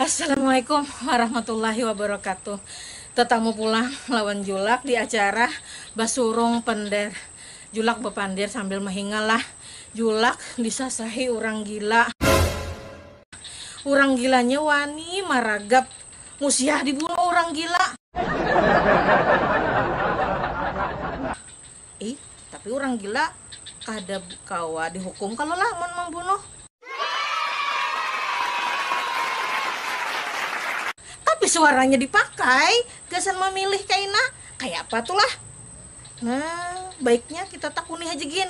Assalamualaikum warahmatullahi wabarakatuh Tetamu pulang lawan Julak di acara Basurung Pender Julak bapandir sambil mahingal lah Julak disasahi urang gila. Urang gilanya wani maragap musiah dibunuh urang gila. Ih tapi urang gila kada kawa dihukum kalo lah mun mambunuh. Tapi suaranya dipakai gasan mamilih kaina kayapa tu lah. Nah baiknya kita takuni haja gin.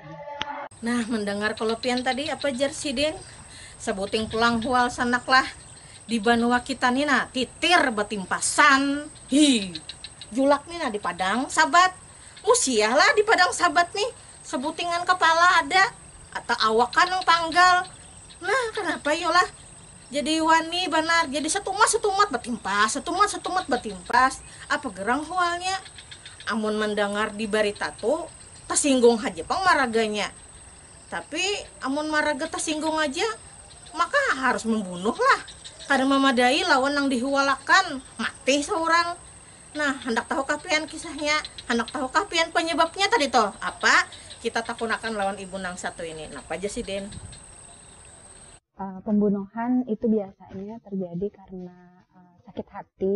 Nah, mendengar kelepian tadi apa jar sidin? Sebuting pulang hual sanaklah. Di banua kita nina titir betimpasan. Hi, julak nina di padang sabat. Musiah lah di padang sabat nih. Sebutingan kepala ada atau awakan yang panggal. Nah, kenapa yolah? Jadi wani banar, jadi setumat-setumat betimpas, setumat-setumat betimpas. Apa gerang hualnya? Amun mendengar di berita tuh, Tasinggung haja pang maraganya. Tapi amun maraga tasinggung aja, maka harus mambunuh lah. Kada mamadai lawan nang dihualakan, mati saurang. Nah, handak tahu kah pian kisahnya? Handak tahu kah pian panyababnya tadi tuh? Apa? Kita takunakan lawan ibu nang satu ini. Napa jar sidin? Pambunuhan itu biasanya tarjadi karna sakit hati.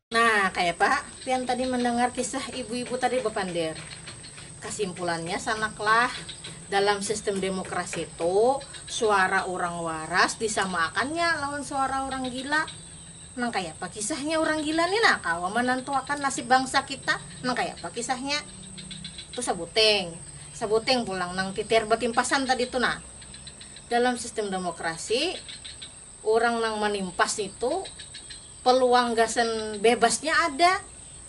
Nah, kayapa pian tadi mandangar kisah ibu-ibu tadi bapander? Kasimpulannya sanaklah, dalam sistem demokrasi tu suara urang waras disamaakannya lawan suara urang gila. Nang kayapa kisahnya urang gila ni nah kawa manantuakan nasib bangsa kita? Nang kayapa kisahnya? Tu sabuting, sabuting pulang nang titiar batimpasan tadi tu nah. Dalam sistem demokrasi. Urang nang manimpas nitu peluang gasan bebasnya ada,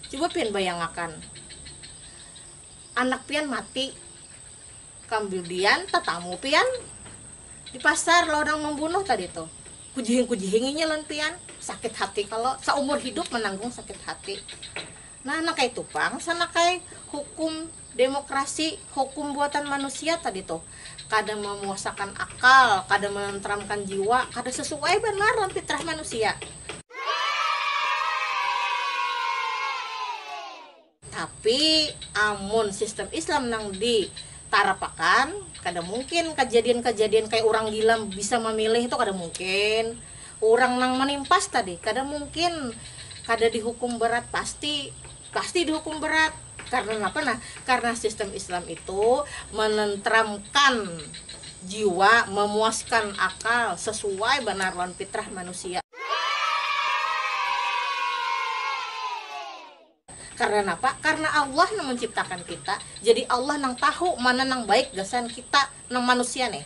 cuba pian bayangakan anak pian mati kambudian tatamu pian di pasar lawan nang mambunuh tadi tu, kujihing-kujihing inya lawan pian, sakit hati kalo, saumur hidup mananggung sakit hati. Nah nang kaitu pang sanak ai hukum. Demokrasi, hukum buatan manusia tadi tuh, kada mamuasakan akal, kada manantramkan jiwa, kada sasuai banar lawan fitrah manusia. Tapi, amun sistem Islam nang di tarapakan, kada mungkin kajadian-kajadian kaya urang gila bisa mamilih tu kada mungkin, urang nang manimpas tadi kada mungkin kada dihukum berat pasti. Pasti dihukum berat. Karena napa nah? Karena sistem Islam itu menentramkan jiwa, memuaskan akal, sesuai banar lawan fitrah manusia. Karena napa? Karena Allah nang menciptakan kita, jadi Allah nang tahu mana nang baik gasan kita nang manusia nih.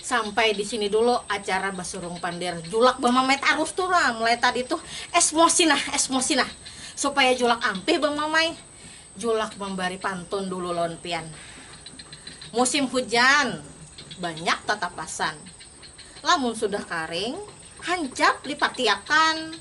Sampai di sini dulu acara basurung pander julak bamamai tarus tu nah mulai tadi tuh esmosi nah esmosi nah supaya julak ampih bamamai julak mambari pantun dulu lawan pian musim hujan banyak tatapasan lamun sudah karing hancap lipatiakan.